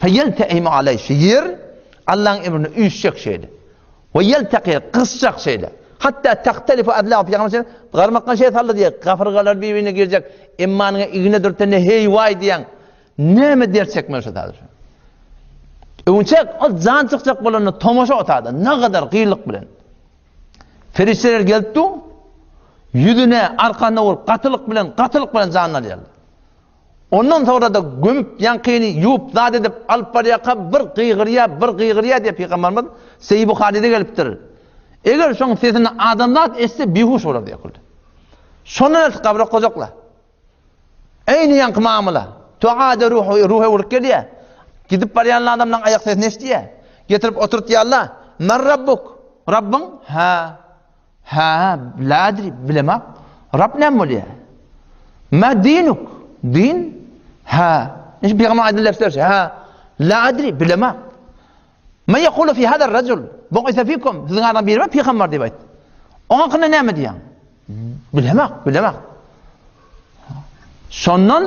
Feýelteim aley, şu ýer Allaň emrine üýşjek şeýle. We ýelteki, gysjak şeýle. Hatda tahtelifu adla pyýagyna şeýle, garmakdan şeýle saldy diýýär, gafyrgalar bir-birine girjek, emmanyňa igna dürtende heý waý diýýäň, näme dert çekmeli şu zady şu. Öwünçek, ol jan çykjak bolanda tomaşa otady, nagadar gyýylyk bilen. Perişdeler gelip dur, ýüzüne, arkasyna urup, gatylyk bilen, gatylyk bilen janyny alýarlar. Ondan soňra-da gömüp, ýaňkyny ýuwup, zat edip, alyp barýarka bir gygyrýa, bir gygyrýa diýip Pygambarymyz Seýi Buharyda gelipdir. Eger şoň sesini adamzat eşitse bihuş bolar diýip. Şondan ertir gabra gojakla. Eýni ýaňky mamula. Tuada ruhu, ruha urup gelýä. Gidip barýan adamlaň aýak sesini eşitýä. Getirip oturtýarlar. Mer Rabbuk. Rabbyň? Hä. Hä, lädir, bilemok. Rab näme bolýa? Mä dinuk, din? Hä, inşi pygamber aýdan lefzi berşi. Hä, lädir, bilemok. Mä ýekulu fi hadar rajul, bu isa fikum, siziň adam biri bar, pygamber diýip aýt. Oňa hakkynda näme diýýäň? Bilemok, bilemok. Şondan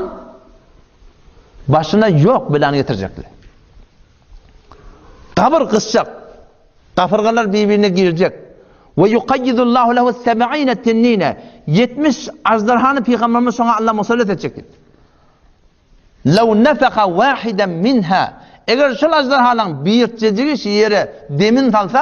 başyna ýok belany getirjekler. Gabyr gysjak. Gabyrgalar bir-birine girjek. Ve yukayyidullahu lehu seb'ine tennine. 70 ajdarhany pygamberimiz şoňa Allah musallat etjek diýip. Lew nefeha wahiden minha. Eger şol ajdarhalaryň birjejigi şu ýere demin salsa,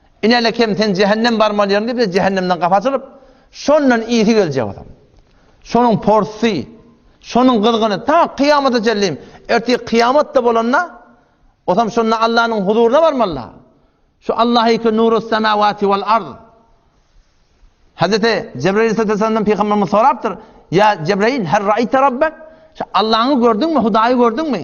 Inene kim sen jähennem barmaly ýeriň diýse jähennemden gapy açylyp, şondan ysy geljek adam. Şonuň porsy, şonuň gyzgyny ta kyýamata çenlin, ertir kyýamatda bolanda, otam şonda Allanyň huzuryna barmaly. Şu Allahyky nurus semawati wal ard. Hazreti Jebrail sallallahu pygamberimiz sorapdyr, Ya Jebrail her raýta rabbek? Şu Allaňy gördüňmi, Hudaýy gördüňmi?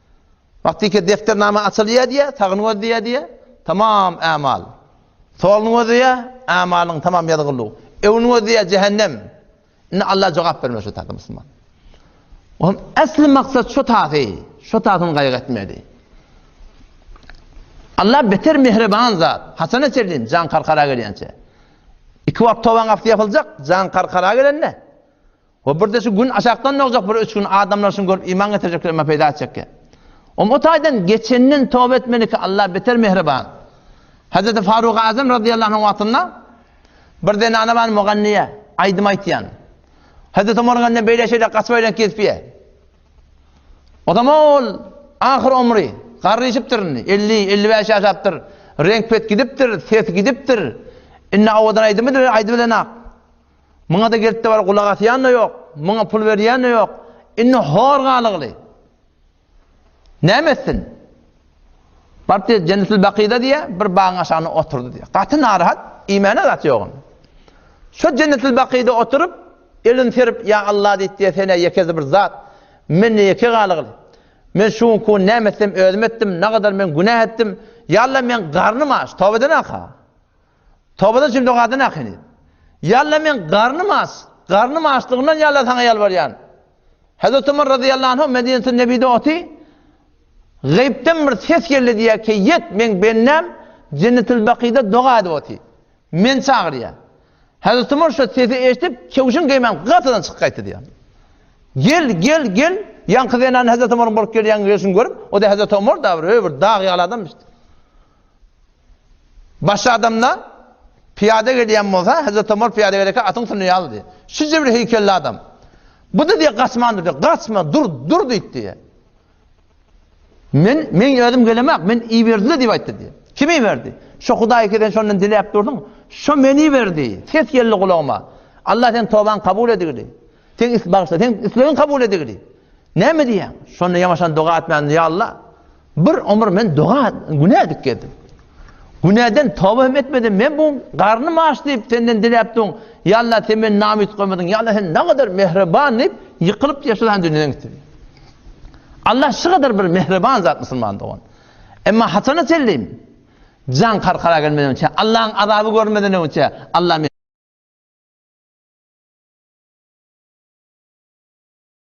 Wagtyky depdernama açylýar diýýär, sagyny gözleýär diýýär, tamam ämal. Soluny gözleýär, ämalyň tamam ýazgyldygy. Öňüni gözleýär, jähennem. Indi Alla jogap bermeli şu taýda musulman. Onuň äsli maksat şu taýy, şu taýdan gaýgy etmeli. Alla beter mehriban zat. Haçana çelin jan karkara gelýänçe. Iki wagt tobaň gapysy ýapyljak, jan karkara gelende. We birde şu gün aşakdan dogjak bir üç gün adamlar şuny görüp iman getirjekler emma peýda etjekki. Om o taýdan geçenden toba etmeliki Allah beter mehriban. Hazreti Faruk Azam radiyallahu anh wagtynda bir zenana bar muganniye, aýdym aýtýan. Hazreti Omar ganne beýle şeýle gaçyp aýlan kesbiye. O zaman ol ahyr omri garryşypdyr indi. 50-55 ýaşapdyr. Reňk pet gidipdir, ses gidipdir. Indi awadan aýdymy aýdy bilen ak. Muňa-da gelip-de bar, gulak asýan-da ýok, muňa pul berýän-de ýok. Indi hor galygly. Näme etsin? Baryp diýýär, Jennetil Bakyda diýýär, bir bagyň aşagynda oturdy diýýär. Gaty narahat, iýmäne zat ýok onuň. Şo Jennetil Bakyda oturyp, elini serip, Ýa Alla diýip diýýär, Sen-ä ýekesi bir zat. Men-de ýeke galygly. Men şu günki gün näme etsem özüm etdim, nagadar men günä etdim. Ýa Alla, meň garnym aç, toba edenäka. Tobadan üçin dogadan akyny. Yalla men garnym aç, garnym açlygyndan yalla saňa ýalbarýan. Hezreti Ömer razyýallahu anh Medinetün Nebide oty, Gaýypdan bir ses geldi diýýär, keýýet meň bendäm Jennetil Bakyda doga edip oty. Men çagyrýar. Hezreti Ömer şu sesi eşidip, kewşin geýmän gatydan çykyp gaýtdy diýýär. Gel, gel, gel. Ýaňky zenan Hezreti Ömeriň bolup gelýän gelşini görüp, o da Hezreti Ömer da bir öý bir dag ýaly adamyşdy. Başy adamda pyýada gelýän bolsa, Hezreti Omar pyýada gelerkä atyň üstünde ýal diýýär. Şunça bir heýkelli adam. Bu-da diýýär gaçman dur diýýär. Gaçma, dur, dur diýdi diýýär. Men, men özüm gelemek, men iberdiler diýip aýtdy diýýär. Kim iberdi? Şo Hudaý ki sen şondan diläp dursuň, şo meni iberdi. Ses geldi gulagyma. Allah sen tobaň kabul edigili. Sen is bagşla, sen islegiň kabul edigili. Näme diýýäň? Şonda ýamaşan doga etmän, ýa Allah, Bir omur men doga güne edip gezdim. Güneden toba hem etmedim. Men bu garny maş diýip senden diläp dur. Yalla sen men nam yutgamedin. Yalla sen ne kadar mehriban diýip yıkılıp yaşadan dünýäden gitdi. Allah şu kadar bir mehriban zat musulman dogan. Emma hatana selleyim. Can karkara gelmeden önce. Allah'ın azabı görmeden önce. Allah